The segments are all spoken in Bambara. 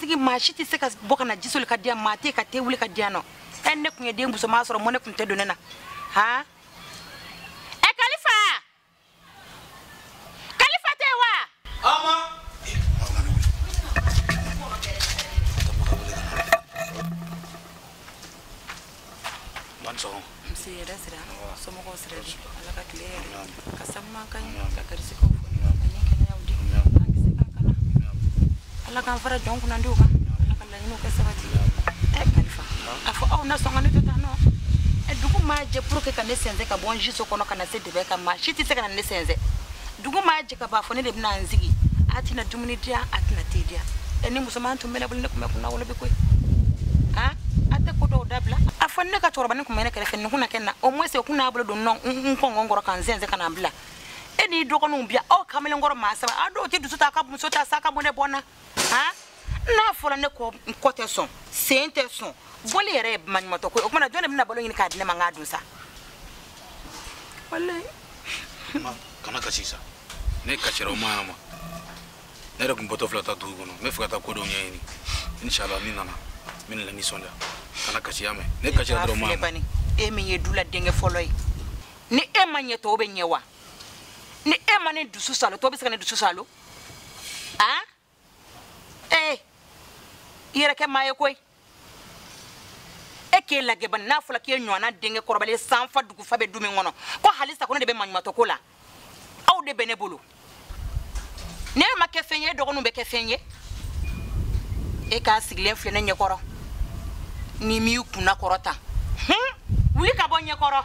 sigi maa si tɛ se ka bɔ ka na ji soli ka di yan maa tɛ ka te wuli ka di yan nɔ ɛ ne tun ye den musoman sɔrɔ mɔnɛ tun tɛ don ne na han kalifa tɛ wa ama nse hɛrɛ sira somɔgɔw sira di ala ka tile hɛrɛ ka sababu ɲuman ka ɲɛ ka garisɛgɛw fɔ ani kɛnɛyaw di an kisi k'an kana ala k'an fara jɔn kunnandiw kan laɲiniw kɛ sabati ɛ kalifa a fɔ aw na sɔn ka ne to tan nɔ ɛ dugu maa jɛ pour que ka ne sɛnsɛn ka bɔ n siso kɔnɔ ka na se dɛbɛn kan maa si tɛ se ka na ne sɛnsɛn dugu maa jɛ ka bɔ fo ne de bɛna n sigi a tɛna dumuni diya a tɛna te diya ɛ ni musoman tun bɛ ne bolo ne tun bɛ kunnawolo bi koyi han a tɛ ko dɔw dabila a fɔ ne ka cɛkɔrɔbanin tun bɛ ne kɛrɛfɛ nin tun na kɛ n na au moins o tun n'a bolo don nɔ n kɔngɔn kɔrɔ ka n sɛnsɛn ka na n bila e n'i dɔgɔninw bi aw kamalenkɔrɔ maa saba a dɔw tɛ dusu ta a ka muso ta sa ka mɔnɛ bɔ n na ha n'a fɔra ne kɔ n kɔ tɛ sɔn sen tɛ sɔn bɔli yɛrɛ ye maɲumatɔ ko ye o tuma na jɔn de bɛna balo ɲini k'a di ne ma n k'a dun sa walayi kana kasi sa n'e kasira o ma ɲa ma ne yɛrɛ tun bɔtɔ filɛ taa dugu kɔnɔ n b'a fɛ ka taa ko dɔw ɲɛɲini inshallah ni n nana n bɛna i nisɔndiya kana kasi y'a mɛn n'e kasira dɔrɔn ma ɲa ma e min ye du la denkɛ fɔlɔ ye ni e ma ɲɛ tɔw bɛ ɲɛ wa ni e ma ne dusu saalo tɔw bɛ se ka ne dusu saalo aa ee i yɛrɛ kɛ maa ye koyi e k'e lajɛ bani n'a fɔla k'e ɲɔgɔnna denkɛ kɔrɔbalen san fa dugu fa bɛ du min kɔnɔ ko halisa ko ne de bɛ maɲumatɔ ko la aw de bɛ ne bolo n'e ma kɛ fɛn ye e dɔgɔninw bɛ kɛ fɛn ye e k'i sigilen filɛ ne ɲɛkɔrɔ n'i m'i kunna kɔrɔta hun wuli ka bɔ n ɲɛkɔrɔ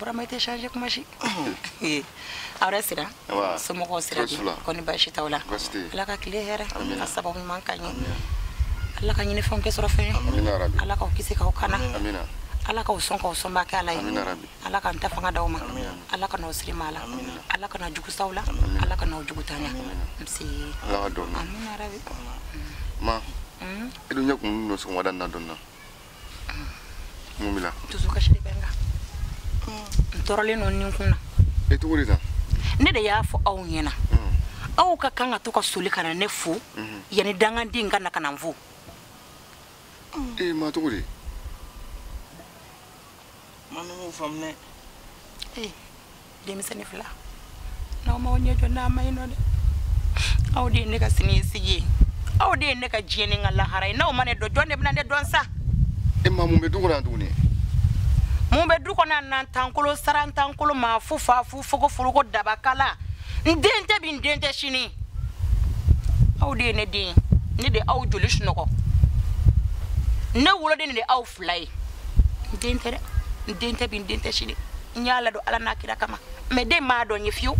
burama i tɛ changer kuma si aw hɛrɛ sira somɔgɔw sira kɔri baasi t'aw la ala ka tile hɛrɛ ka sababu ɲuman ka ɲɛ ala ka ɲinifɛnw kɛ sɔrɔfɛn ye ala k'aw kisi k'aw kana ala k'aw sɔn k'aw sɔnba kɛ ala ye ala ka n ta fanga d'aw ma ala kan'aw siri maa la ala kana jugu s'aw la ala kan'aw jugutanya msi ala ka dɔn amina rabi ma mm. i dun ɲɛ kun nɔ sɔgɔmada na dɔn na mm. mun b'i la dusu kasi de bɛ n kan mm. n tɔɔrɔlen don nin kun na i e tɔgɔ de ta ne de y'a fɔ aw ɲɛna aw ka kan ka to ka soli ka na ne fo mm-hmm. yanni danganden ka na ka na n fo e ma tɔgɔ de ma ne m'o faamu dɛ ee denmisɛnnin fila n'aw m'aw ɲɛ jɔ n'a man ɲi nɔ dɛ aw de ye ne ka siniɲɛsigi ye aw de ye ne ka diɲɛ ni n ka lahara ye n'aw ma ne dɔn jɔn de bɛna ne dɔn sa e ma mun bɛ du kɔnɔ yan tuguni mun bɛ du kɔnɔ nantan kolo sarantan kolo maa fu fa fu fogo foroko dabakala n den tɛ bi n den tɛ sini aw de ye ne den ne de aw joli sunɔgɔ ne woloden de aw fila ye n den tɛ dɛ n den tɛ bi n den tɛ sini n y'a ladon ala n'a kira kama mais den m'a dɔn n ye fiyewu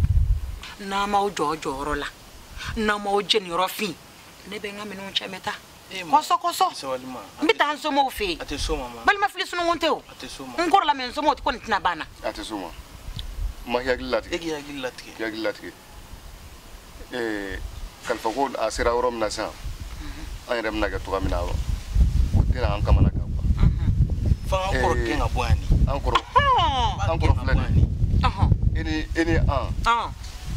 n'aw m'aw jɔ jɔyɔrɔ la n'aw m'aw jeniyɔrɔ fin ne bɛ n ka minɛnw cɛ n bɛ taa kɔsɔ kɔsɔ n bɛ taa n somɔgɔw fɛ yen balima fili sununkun tɛ o n kɔrɔla mais n somɔgɔw kɔni tɛna ban n na ma hakili latigɛ e k'i hakili latigɛ k'i hakili latigɛ ee kalifa ko a sera yɔrɔ min na sisan an yɛrɛ bɛna kɛ cogoya min na o tɛna an kamana gan quoi fo an ka kɔrɔ gɛn ka bɔ yan de an kɔrɔ an kɔrɔ filɛ nin ye e ni e ni an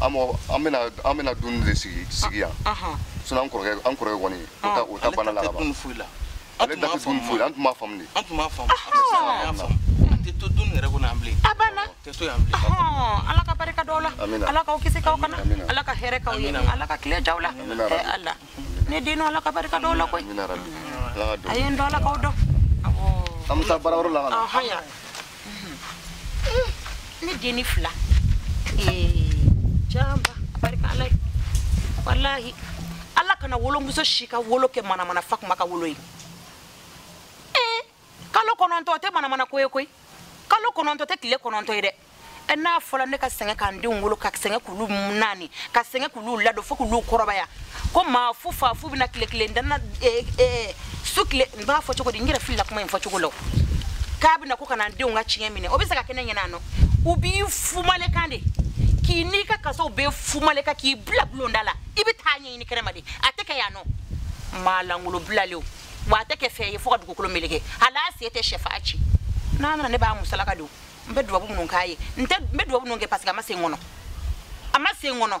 an mɔgɔ an bɛna an bɛna dumuni de sigi sigi yan sinon an kɔrɔkɛ an kɔrɔkɛ kɔni o ta o ta banna la ka ban an tun b'a faamu foyi an tun b'a faamu de an tun b'a faamu an y'a faamu an tɛ to du in yɛrɛ kɔnɔ yan bilen a banna an tɛ to yan bilen ala ka barika d'aw la ala k'aw kisi k'aw kana ala ka hɛrɛ k'aw ye ala ka tile j'aw la ala ne den ala ka barika d'aw la koyi a ye n dɔn ala k'aw dɔn an bɛ taa baarayɔrɔ la ka na ne dennin fila ja n b'a barika ala ye walahi ala kana wolomuso si ka wolo kɛ manamana fa kuma ka wolo ye ee kalo kɔnɔntɔ o tɛ manamana ko ye koyi kalo kɔnɔntɔ tɛ tile kɔnɔntɔ ye dɛ e n'a fɔla ne ka sɛgɛn ka n denw wolo ka sɛgɛn k'olu naani ka sɛgɛn k'olu ladon fo k'olu kɔrɔbaya ko maa fu fa fu bɛna tile kelen dan na eh, eh, su tile n b'a fɔ cogo di n yɛrɛ filila kuma in fɔ cogo la o. k'a bɛna ko ka na n denw ka tiɲɛ minɛ o bɛ se ka kɛ ne ɲɛna non u b'i fumaleka de k'i n'i ka kasaw bɛ fumaleka k'i bila bulonda la i bɛ taa ɲɛɲini kɛnɛma de a tɛ kɛ yan non maa lankolon bilalenw wa a tɛ kɛ fɛn ye fo ka dugukolo meleke hali a sen tɛ sɛfan ci n'a nana ne b'a musalaka de o n bɛ dubabu minnu k'a ye n tɛ n bɛ dubabu minnu kɛ parce que a ma se n kɔnɔ a ma se n kɔnɔ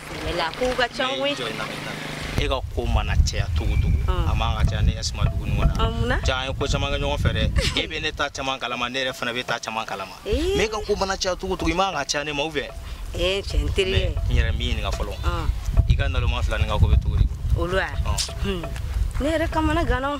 la k'u ka ca koyi e ka ko mana caya cogo cogo a man ka caya ne ka suma dugu ɲɔgɔn na ja an ye ko caman kɛ ɲɔgɔn fɛ dɛ e bɛ ne ta caman kalama ne yɛrɛ fana b'e ta caman kalama mais e ka ko mana caya cogo cogo i man ka caya ne ma ou bien ee cɛ n teri ye n yɛrɛ m'i ɲininka fɔlɔ i ka naloma fila nin ka ko bɛ cogo di olu wa ne yɛrɛ kamana ganna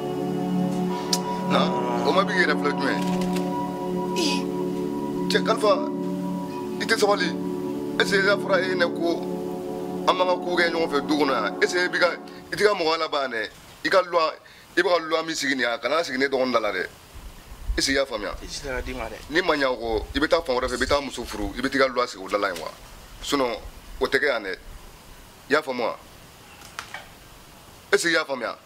na o ma bi yɛrɛ filɛ jumɛn cɛ kalifa i tɛ sabali ese ka fara e ne ko an b'an ka ko kɛ ɲɔgɔn fɛ du kɔnɔ yan ese i ka i tɛ ka mɔgɔ laban dɛ i ka lwa i bɛ ka lwa min sigi nin yan kana sigi ne dɔgɔnin da la dɛ ese i y'a faamuya ni ma ɲa o kɔ i bɛ taa fan wɛrɛ fɛ i bɛ taa muso furu i bɛ t'i ka lwa sigi o da la yen wa sinon o tɛ kɛ yan dɛ i y'a faamu wa ese i y'a faamuya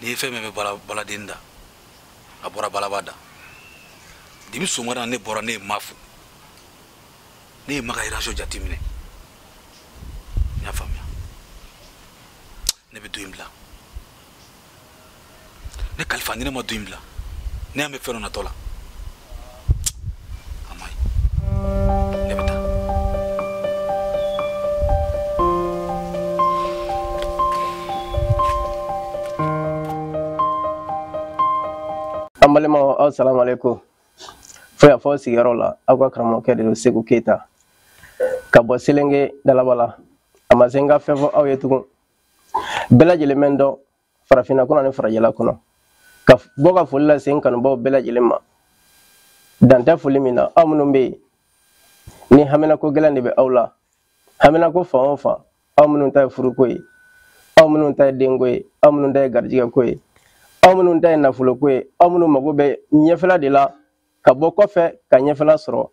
n'i ye fɛn min bɛ baladen da a bɔra balaba da de bi sɔgɔmada ne bɔra ne ye ma fo ne ye ma ka iraso jateminɛ n y'a faamuya ne bɛ du in bila ne kalifa ni ne ma du in bila ne ɲɛ bɛ fɛn dɔ natɔ la an balimaw aw salamu aleykum fo y'a fɔ sigiyɔrɔ la aw ka karamɔgɔkɛ de don seku keyita ka bɔ selenge dalabala a ma se n ka fɛn fɔ aw ye tugun bɛɛ lajɛlen bɛ n dɔn farafinna kɔnɔ ani farajɛla kɔnɔ ka bɔ ka foli lase n kanubaaw bɛɛ lajɛlen ma dan tɛ foli min na aw minnu bɛ yen ni haminako gɛlɛn de bɛ aw la haminako fan o fan aw minnu ta ye furuko ye aw minnu ta ye denko ye aw minnu ta ye garijɛgɛko ye aw minnu ta ye nafoloko ye aw minnu mago bɛ ɲɛfɛla de la ka bɔ kɔfɛ ka ɲɛfɛla sɔrɔ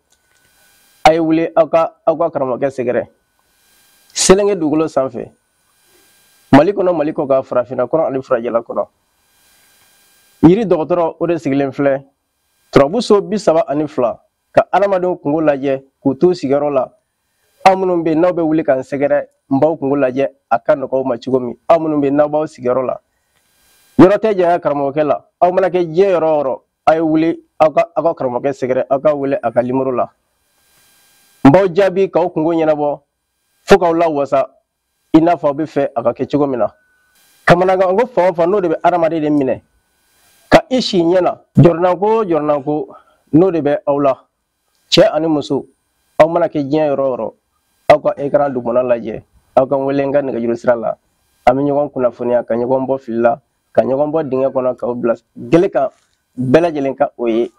a ye wuli aw ka aw ka karamɔgɔkɛ sɛgɛrɛ selenge dugukolo sanfɛ mali kɔnɔ mali kɔkan farafinna kɔnɔ ani farajɛla kɔnɔ yiri dɔgɔtɔrɔ o de sigilen filɛ turabu so bi saba ani fila ka adamadenw kungo lajɛ k'u t'u sigiyɔrɔ la aw minnu bɛ yen n'aw bɛ wuli k'an sɛgɛrɛ n b'aw kungo lajɛ a ka nɔgɔ aw ma cogo min aw minnu bɛ yen n'aw b'aw sigiyɔrɔ la yɔrɔ tɛ janya karamɔgɔkɛ la aw mana kɛ diɲɛ yɔrɔ o yɔrɔ a ye wuli aw ka aw ka karamɔgɔkɛ sɛgɛrɛ aw ka wele a ka nimoro la n b'aw jaabi k'aw kungo ɲɛnabɔ fo k'aw lawasa i n'a fɔ aw b'a fɛ a ka kɛ cogo min na kamanagan ko fan o fan n'o de bɛ adamaden de minɛ ka i si ɲɛ na jɔrɔnanko o jɔrɔnanko n'o de bɛ aw la cɛ ani muso aw mana kɛ diɲɛ yɔrɔ o yɔrɔ aw ka ekran dugumana lajɛ aw ka wele n ka nɛgɛjuru sira la an bɛ ɲɔgɔn kunnafoniya ka ɲɔgɔn bɔ fili la ka ɲɔgɔn bɔ dingɛ kɔnɔ k'aw bila gele kan bɛɛ lajɛlen ka o ye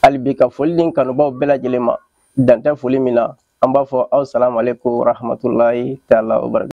hali bi ka foli ni kanubaaw bɛɛ lajɛlen ma dan tɛ foli min na an b'a fɔ aw salamu aleykum warahmatulahi taala wabarakatu